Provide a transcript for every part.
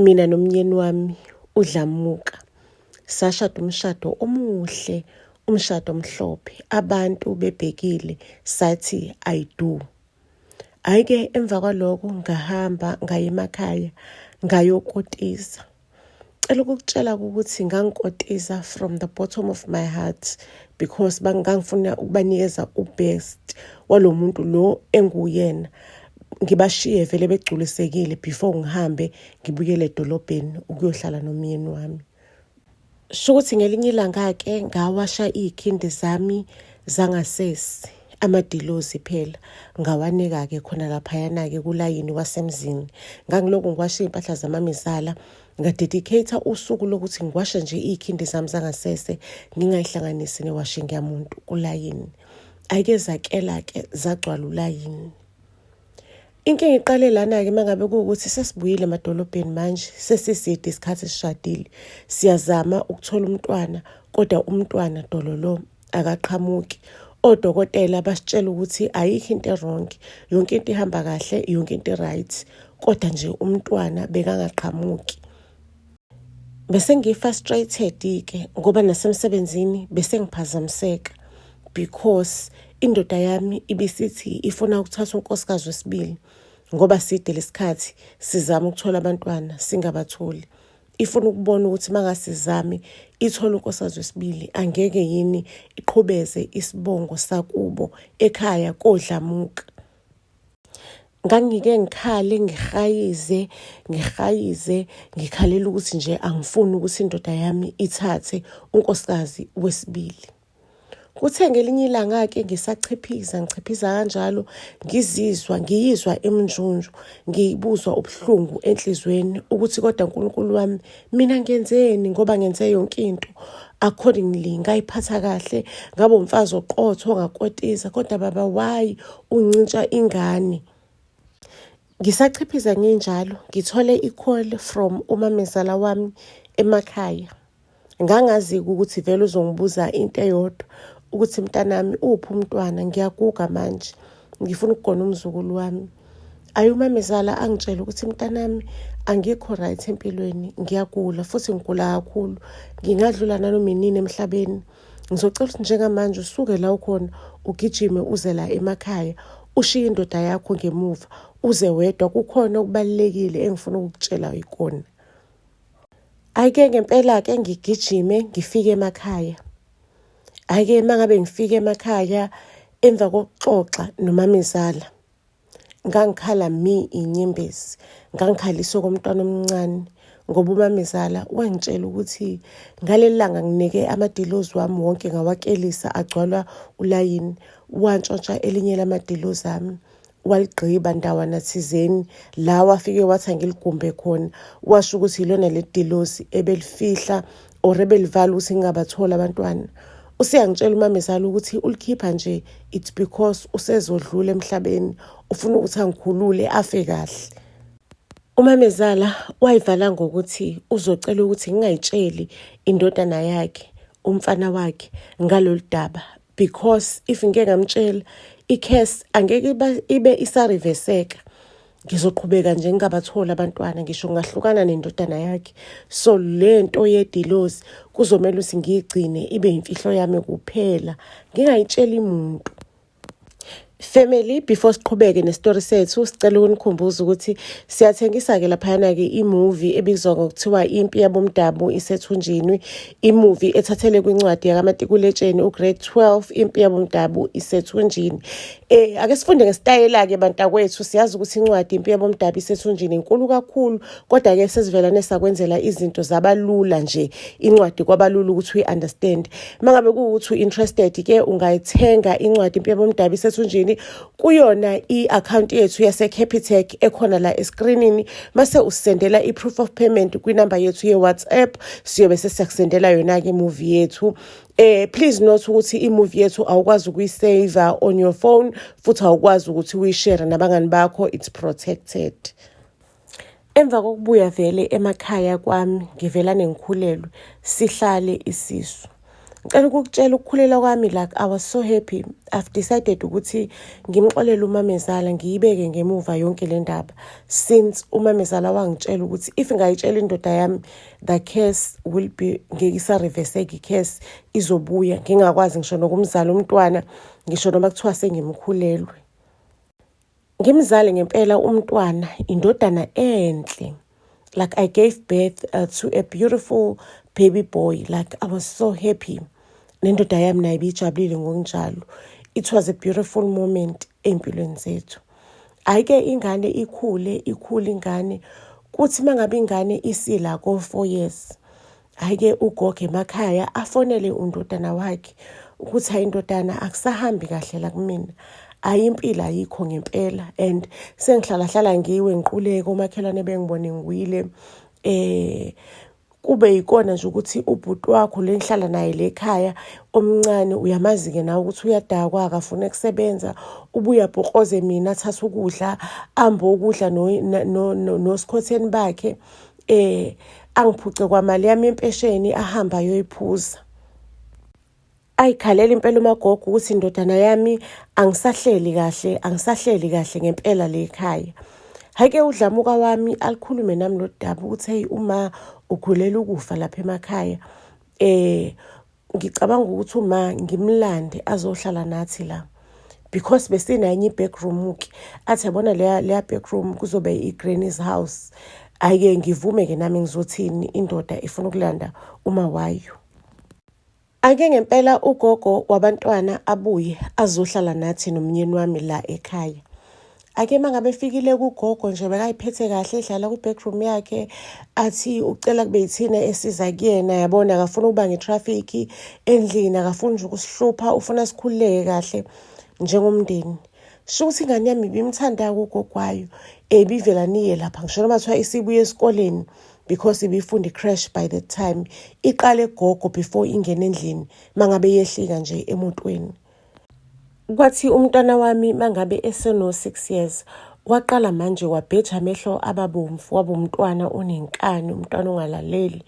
mina nomnyeni wami udlamuka sashada umshado omuhle umshado omhlophe abantu bebhekile sathi i do ayike emva kwaloko ngahamba ngaye emakhaya ngayokotisa Cela ukukutshela ukuthi ngangikotiza from the bottom of my heart because bangangifuna ukubanikeza ubest walo muntu lo enguyena ngibashiye vele begculisekile before ngihambe ngibuyele edolobheni ukuyohlala nomyeni wami sho ukuthi ngelinye ilanga-ke ngawasha iy'khindi zami zangasesi amadilozi phela ngawanika-ke khona laphayana-ke kulayini wasemzini ngangilokhu ngiwasha iy'mpahla zamamizala ngadedicate-a usuku lokuthi ngiwashe nje iy'khindi zami zangasese ngingayihlanganisi newashing yamuntu kulayini ayike zakela-ke zagcwala ulayini inkinga iqale lana-ke uma ngabe kuwukuthi sesibuyile emadolobheni manje sesiside isikhathi sishadile siyazama ukuthola umntwana kodwa umntwana dololo akaqhamuki odokotela basitshela ukuthi ayikho into erongi yonke into ihamba kahle yonke into right kodwa nje umntwana bekangaqhamuki bese ngi-frustrated ke ngoba nasemsebenzini bese ngiphazamiseka because indoda yami ibisithi ifuna ukuthatha unkosikazi wesibili ngoba side lesikhathi sizama ukuthola abantwana singabatholi ifuna ukubona ukuthi mangasizami ithola unkosazwe wesibili angeke yini iqhubeze isibongo sakubo ekhaya kodlamuka ngangike ngikhale ngihayize ngihayize ngikhalela ukuthi nje angifuni ukuthi indoda yami ithathe unkosikazi wesibili Kuthe ngelinye ilanga-ke ngisachiphiza ngichiphiza kanjalo ngizizwa ngiyizwa iminjunju ngibuzwa ubuhlungu enhlizweni ukuthi kodwa uNkulunkulu wami mina ngenzeni ngoba ngenze yonke into accordingly ngayiphatha kahle ngabe umfazi oqotho ngakotiza kodwa baba why uncintsha ingane ngisachiphiza nginjalo ngithole i-call from umamezala wami emakhaya ngangazi-ke ukuthi vele uzongibuza into eyodwa ukuthi mntanami uphi umntwana ngiyaguga manje ngifuna ukugona umzukulu wami ayi umamezala angitshele ukuthi mntanami angikho right empilweni ngiyagula futhi ngigula kakhulu ngingadlula nanoma inini emhlabeni ngizocela ukuthi njengamanje usuke la ukhona ugijime uze la emakhaya ushiye indoda yakho ngemuva uze wedwa kukhona okubalulekile engifuna ukukutshela ikona Ayike ngempela-ke ngigijime ngifike emakhaya. Ayike uma ngabe ngifike emakhaya emva kokuxoxa nomamezala ngangikhala mi inyembezi ngangikhaliswe komntwana omncane ngoba umamezala wangitshela ukuthi ngaleli langa nginike amadilozi wami wonke ngawakelisa agcwalwa ulayini wantshontsha elinye lamadilozi ami waligqiba ndawana thizeni la wafike wathi angiligumbe khona washo ukuthi yilona le dilosi ebelifihla or ebelivala ukuthi ngingabatholi abantwana useyangitshela umamezala ukuthi ulikhipha nje it's because usezodlula emhlabeni ufuna ukuthi angikhulule afe kahle umamezala wayivala ngokuthi uzocela ukuthi ngingayitsheli indodana yakhe umfana wakhe ngalolu daba because if ngike ngamtshela i-case angeke ibe isariveseka ngizoqhubeka nje ngingabatholi abantwana ngisho ngahlukana nendodana yakhe so le nto yedilozi kuzomele ukuthi ngiyigcine ibe yimfihlo yami kuphela ngingayitsheli muntu Family, before siqhubeke nestory sethu sicela ukunikhumbuza ukuthi siyathengisa-ke laphayana-ke imovie ebizwa ngokuthiwa impi yabomdabu isethunjini imovie ethathele kwincwadi yakamatikuletsheni ugrade 12 impi yabomdabu isethunjini um ake sifunde ngesitayela-ke bantakwethu siyazi ukuthi incwadi impi yabomdabu isethunjini inkulu kakhulu kodwa ke sesivelane sakwenzela izinto zabalula nje incwadi kwabalula ukuthi uyi understand mangabe kuwukuthi uinterested ke ungayithenga incwadi impembe omdabi sethunjini kuyona iaccount yethu yase Capitec ekhona la escreenini mase usendela iproof of payment kwinamba yethu ye WhatsApp siyobe sesiyakusendela yona ke movie yethu eh please note ukuthi imovie yethu awukwazi ukuyisave on your phone futhi awukwazi ukuthi uyishare nabangani bakho it's protected Emva kokubuya vele emakhaya kwami ngivela nengikhulelwe sihlale isisu. Ngicela ukukutshela ukukhulela kwami like I was so happy. I've decided ukuthi ngimxolele umamezala ngiyibeke ngemuva yonke le ndaba since umamezala wangitshela ukuthi if ngayitshela indoda yami the case will be ngeke isareveseke i-case izobuya ngingakwazi ngisho nokumzala umntwana ngisho noma kuthiwa sengimkhulelwe. Ngimzale ngempela umntwana indodana enhle like I gave birth uh, to a beautiful baby boy like I was so happy nendoda yami naye biyijabulile ngokunjalo it was a beautiful moment ey'mpilweni zethu hhayi ke ingane ikhule ikhule ingane kuthi uma ngabe ingane isila ko-four years Ake ugogo emakhaya afonele undodana wakhe ukuthi hayi indodana akusahambi kahle la kumina ayi impilo ayikho ngempela and sengihlalahlala ngiwe ngiquleke omakhelwane bengibone ngiwile eh kube yikona nje ukuthi ubhuti wakho le ngihlala naye le khaya omncane uyamazi-ke nawe ukuthi uyadakwa akafuni kusebenza ubuya bhokoze mina athathe ukudla ambe ukudla nosikhotheni bakhe eh angiphuce kwamali yami yempesheni ahamba ayoyiphuza ayikhalela impela umagogo ukuthi indodana yami angisahleli kahle angisahleli kahle ngempela le khaya hake udlamuka wami alikhulume nami lodaba ukuthi hey uma ugulela ukufa lapha emakhaya eh ngicabanga ukuthi uma ngimlande azohlala nathi la because besinenye i-backroom-ke athi yabona leya leya backroom kuzobe i-granny's house ayike ngivume-ke nami ngizothini indoda ifuna ukulanda uma wayo ake ngempela ugogo wabantwana abuye azohlala nathi nomnyeni wami la ekhaya ake uma ngabe efikile kugogo nje bekayiphethe kahle edlala kwi-backroom yakhe athi ucela kube yithina esiza kuyena yabona akafuna ukuba nge-traffic endlini akafuni nje ukusihlupha ufuna sikhululeke kahle njengomndeni sho ukuthi ingane yami ibimthanda kugogwayo ebivela niye lapha ngisho noma kuthiwa isibuye esikoleni because ibifunda i-crash by the time iqale gogo before ingene endlini mangabe yehlika nje emotweni Kwathi umntwana wami mangabe eseno-six years waqala manje wabheja amehlo ababomvu waba umntwana onenkani umntwana ongalaleli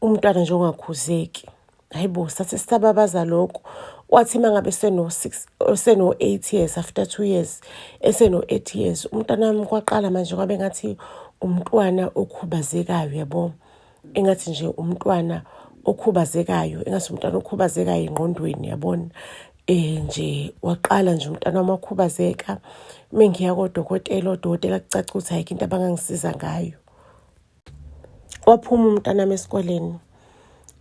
umntwana nje ongakhuzeki hayi bo sathi sisababaza lokho kwathi uma ngabe seno-six seno-eight years after two years eseno-eight years umntwana wami kwaqala manje kwabe ngathi umntwana okhubazekayo yabo engathi nje umntwana okhubazekayo engathi umntwana okhubazekayo engqondweni yabona eh nje waqala nje umntana wami wakhubazeka mengiya kodokotela odokotela kucaca ukuthi ayikho into abangangisiza ngayo waphuma umntana wami esikoleni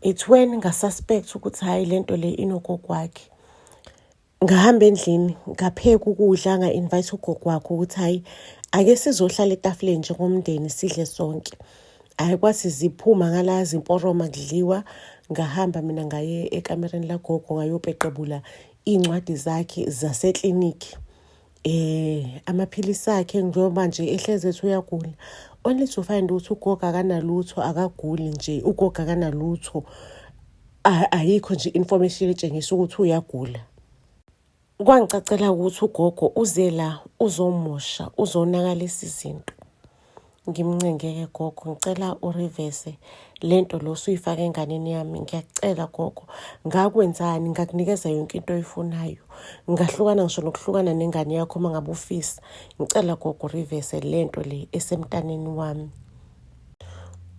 it's when ngasuspect ukuthi hhayi le nto le inogogo wakhe ngahamba endlini ngapheka ukudla nga-invite ugogo wakho ukuthi hhayi ake sizohlala etafuleni njengomndeni sidle sonke hhayi kwathi ziphuma ngala zimporoma kudliwa ngahamba mina ngaye ekamereni lagogo ngayopeqebula iy'ncwadi zakhe zaseklinikhi eh amaphilisi akhe njengoba nje ehlezi ethi uyagula only to find ukuthi ugogo akanalutho akaguli nje ugogo akanalutho ayikho nje information etshengisa ukuthi uyagula kwangicacela ukuthi ugogo uze la uzomosha uzonakalisa izinto ngimncengeke gogo ngicela urivese le nto lo suyifake enganeni yami ngiyakucela gogo ngakwenzani ngakunikeza yonke into oyifunayo ngahlukana ngisho nokuhlukana nengane yakho uma ngabe ufisa ngicela gogo urivese le nto le esemntaneni wami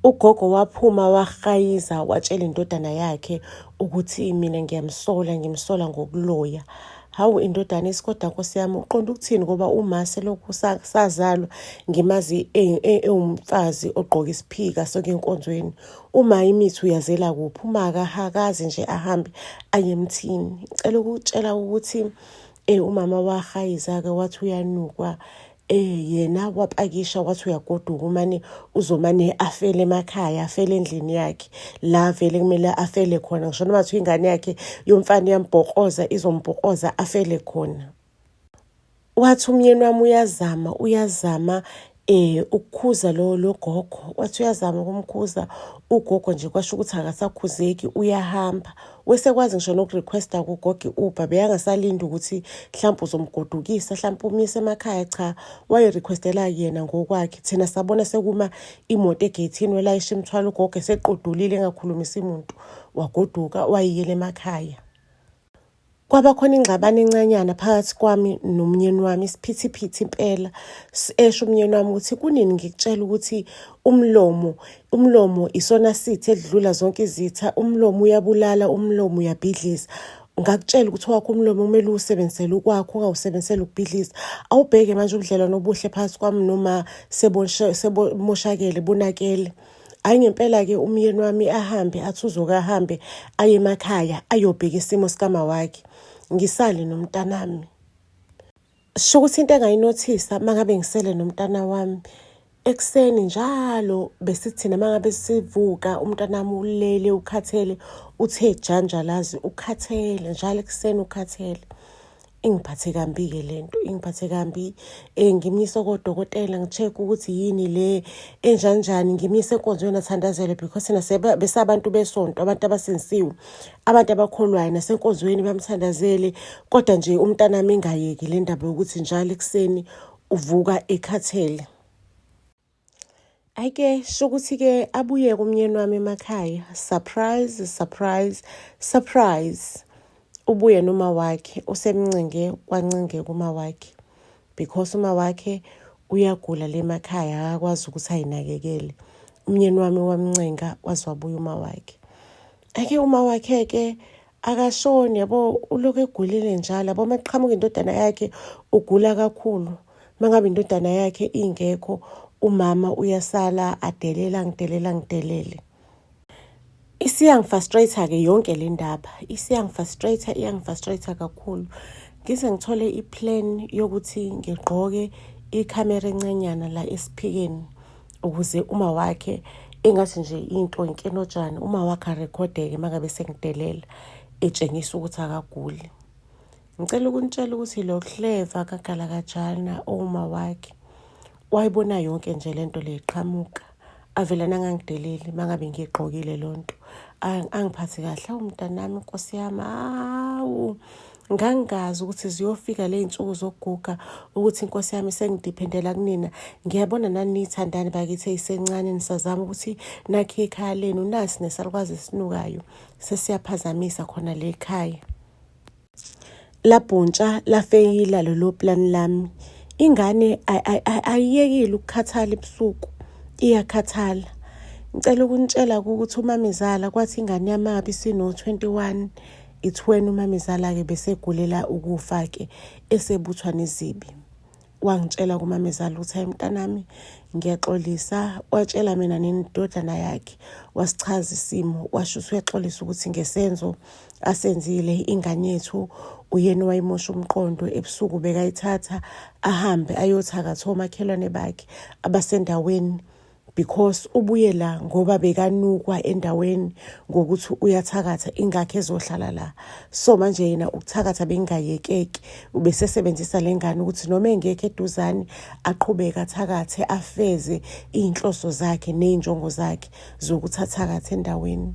ugogo waphuma wahayiza watshela indodana yakhe ukuthi mina ngiyamsola ngimsola ngokuloya hawu indodana isikoda nkosi yami uqonda ukuthini ngoba uma selokhu sazalwa ngimazi e, e, ewumfazi ogqoka isiphika soke enkonzweni uma imithi uyazela kuphi uma akahakazi nje ahambe aye emthini ngicela ukutshela ukuthi um umama wahayiza-ke wathi uyanukwa eh yena wapakisha wathi uyagoduka umane uzomane afele emakhaya afele endlini yakhe la vele kumele afele khona ngisho noma kuthiwa ingane yakhe yomfana iyambhokoza izombhokoza afele khona wathi umyeni wami uyazama uyazama eh ukukhuza lo logogo wathi uyazama ukumkhuza ugogo nje kwasho ukuthi akasakhuzeki uyahamba wesekwazi ngisho nokurequesta kugogi uber beyangasalindi ukuthi mhlawumpe uzomgodukisa mhlawumpe umyise emakhaya cha wayirequestela yena ngokwakhe thina sabona sekuma imoto egeyithini welayisha imithwalo ugogo eseqodulile engakhulumisi muntu wagoduka wayiyela emakhaya kwaba khona ingxabano encanyana phakathi kwami nomnyeni wami isiphithiphithi impela esho umnyeni wami ukuthi kunini ngikutshela ukuthi umlomo umlomo isona sithi edlula zonke izitha umlomo uyabulala umlomo uyabhidliza ngakutshela ukuthi wakho umlomo kumele uwusebenzisele ukwakho ungawusebenzisele ukubhidliza awubheke manje ubudlelwano obuhle phakathi kwami noma sebomoshakele bonakele hayi ngempela-ke umyeni wami ahambe athi uzoke ahambe aye emakhaya ayobheka isimo sikamawakhe ngisale nomntanami Sho ukuthi into engayinothisa uma ngabe ngisele nomntana wami ekuseni njalo besithina uma ngabe sivuka umntana wami ulele ukhathele uthe janja lazi ukhathele njalo ekuseni ukhathele ingiphathe kambi-ke le nto ingiphathe kambi um ngimyise kodokotela ngi-check-e ukuthi yini le enjanjani ngimyise enkonzweni athandazele because thina besabantu besonto abantu abasindisiwe abantu abakholwayo nasenkonzweni bamthandazele kodwa nje umntanami ingayeki le ndaba yokuthi njalo ekuseni uvuka ekhathele ayike shokuthi-ke abuye kumnyeni wami emakhaya surprise surprise surprise ubuye noma wakhe usemncinge wancinge kuma wakhe because uma wakhe uyagula le makhaya akakwazi ukuthi ayinakekele umnyeni wami wamncenga waziwabuya uma wakhe ake uma wakhe ke akashoni yabo uloku egulile njalo yabo uma kuqhamuka indodana yakhe ugula kakhulu uma ngabe indodana yakhe ingekho umama uyasala adelela ngidelela ngidelele isiyangifastrator-ke yonke le ndaba isiyangifastrator iyangifastrator kakhulu ngize ngithole iplan yokuthi ngigqoke ikhamera encanyana la esiphikeni ukuze uma wakhe engathi nje into inkenotshani uma wakhe arekhodeke uma ngabe sengidelela etshengisa ukuthi akaguli ngicela ukunitshela ukuthi lo hleva kagalakajana owuma wakhe wayibona yonke nje le nto le iqhamuka avele nangangideleli uma ngabe ngiyigqokile loo nto angiphathi kahle awu mntanami nkosi yami awu ngangazi ukuthi ziyofika ley'nsuku zokuguga ukuthi inkosi yami sengidiphendela kunina ngiyabona naniyithandani bakithi eyisencane nisazama ukuthi nakhe ikhaya lenu nasi nesalukwazi esinukayo sesiyaphazamisa khona le khaya labhuntsha lafeyila lelo plani lami ingane ayiyekile ukukhathala ebusuku iyakhathala ngicela ukunitshela ukuthi umamezala kwathi ingane yamabi sino-21 It's when umamezala-ke besegulela ukufa-ke esebuthwa nezibi wangitshela kumamezala ukuthi hayi mntanami ngiyaxolisa watshela mina nenidodana yakhe wasichaza isimo washo ukuthi uyaxolisa ukuthi ngesenzo asenzile ingane yethu uyena owayimosha umqondo ebusuku bekayithatha ahambe ayothakatha omakhelwane bakhe abasendaweni because ubuye la ngoba bekanukwa endaweni ngokuthi uyathakatha ingakho ezohlala la so manje yena ukuthakatha bengayekeki ubesesebenzisa le ngane ukuthi noma engekho eduzane aqhubeke athakathe afeze iy'nhloso zakhe ney'njongo zakhe zokuthi athakathe endaweni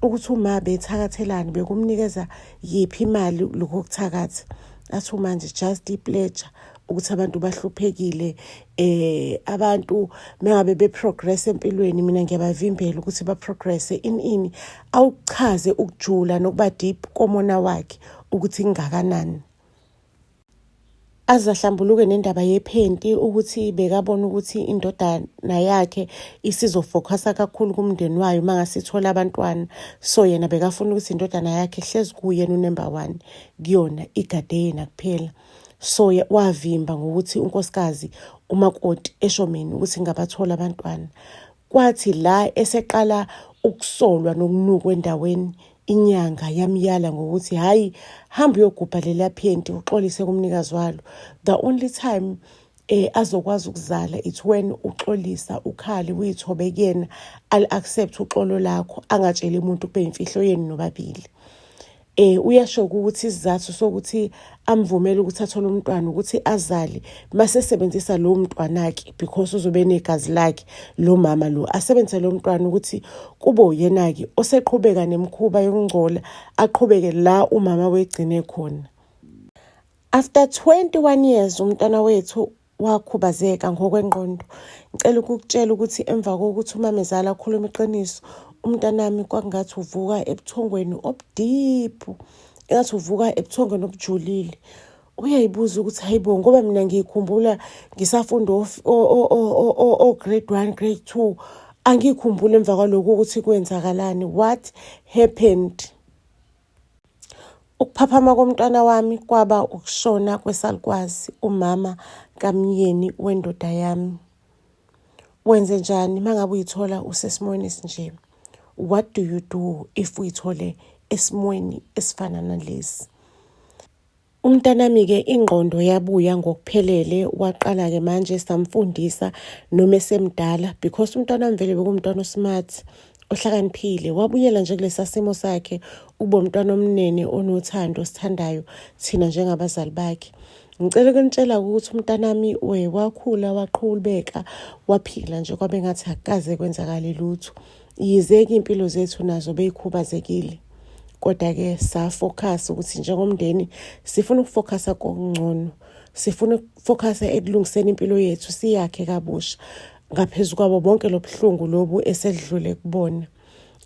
ukuthi uma bethakathelani bekumnikeza yiphi imali lokho kuthakatha athi umanje just ipleja ukuthi abantu bahluphekile eh abantu mengabe be progress empilweni mina ngiyabavimbela ukuthi ba progress in ini awuchaze ukujula nokuba deep komona wakhe ukuthi ingakanani azahlambuluke nendaba yephenti ukuthi bekabona ukuthi indodana yakhe isizofocusa kakhulu kumndeni wayo uma ngasithola abantwana so yena bekafuna ukuthi indodana yakhe hlezi kuyena unember one kuyona igade yena kuphela so wavimba ngokuthi unkosikazi umakoti eshomeni ukuthi ngabathola abantwana kwathi la eseqala ukusolwa nokunukwa endaweni inyanga yamyala ngokuthi hhayi hamba uyogubha leliya phenti uxolise kumnikazi walo the only time eh azokwazi ukuzala it's when uxolisa ukhali uyithobe kuyena al accept uxolo lakho angatsheli umuntu kube imfihlo yenu nobabili eh uyasho ukuthi isizathu sokuthi amvumele ukuthi athole umntwana ukuthi azale mase sebenzisa lo mntwana ke because uzobe negazi lakhe lo mama lo asebenzise lo mntwana ukuthi kube uyena ke oseqhubeka nemkhuba yokungcola aqhubeke la umama wegcine khona After 21 years umntwana wethu wakhubazeka ngokwengqondo. Ngicela ukukutshela ukuthi emva kokuthi umamezala akhuluma iqiniso, umntanami kwakungathi uvuka ebuthongweni obudiphu, engathi uvuka ebuthongweni obujulile. Uyayibuza ukuthi hayibo ngoba mina ngiyikhumbula ngisafunda o-grade one, grade two, angiyikhumbuli emva kwalokhu ukuthi kwenzakalani, what happened? Ukuphaphama komntwana wami kwaba ukushona kwesalukwazi umama kamyeni wendoda yami. Wenze njani uma ngabe uyithola usesimweni esinje? What do you do if uyithole esimweni esifana nalesi? Umntanami-ke ingqondo yabuya ngokuphelele waqala-ke manje samfundisa noma esemdala because umntanami vele bekumntwana osmart ohlakaniphile wabuyela nje kulesa simo sakhe ube umntwana omnene onothando sithandayo thina njengabazali bakhe ngicela ukunitshela ukuthi umntanami we wakhula waqhulubeka waphila nje kwabe ngathi akukaze kwenzakale lutho Yize-ke iy'mpilo zethu nazo beyikhubazekile kodwa-ke safokhasa ukuthi njengomndeni sifuna ukufokhasa kokungcono sifuna ukufokhasa ekulungiseni impilo yethu siyakhe kabusha ngaphezu kwabo bonke lobuhlungu lobu esedlule kubona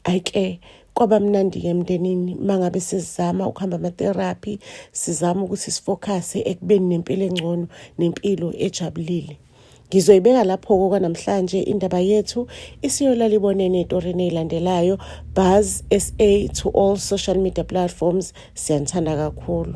ayike kwaba mnandi-ke emndenini uma ngabe sizama ukuhamba amatherapy sizama ukuthi sifokhase ekubeni nempilo engcono nempilo ejabulile Ngizoyibeka lapho-ke kwanamhlanje indaba yethu isiyolala ibonene etorini eyilandelayo. Buzz SA to all social media platforms. Siyanithanda kakhulu.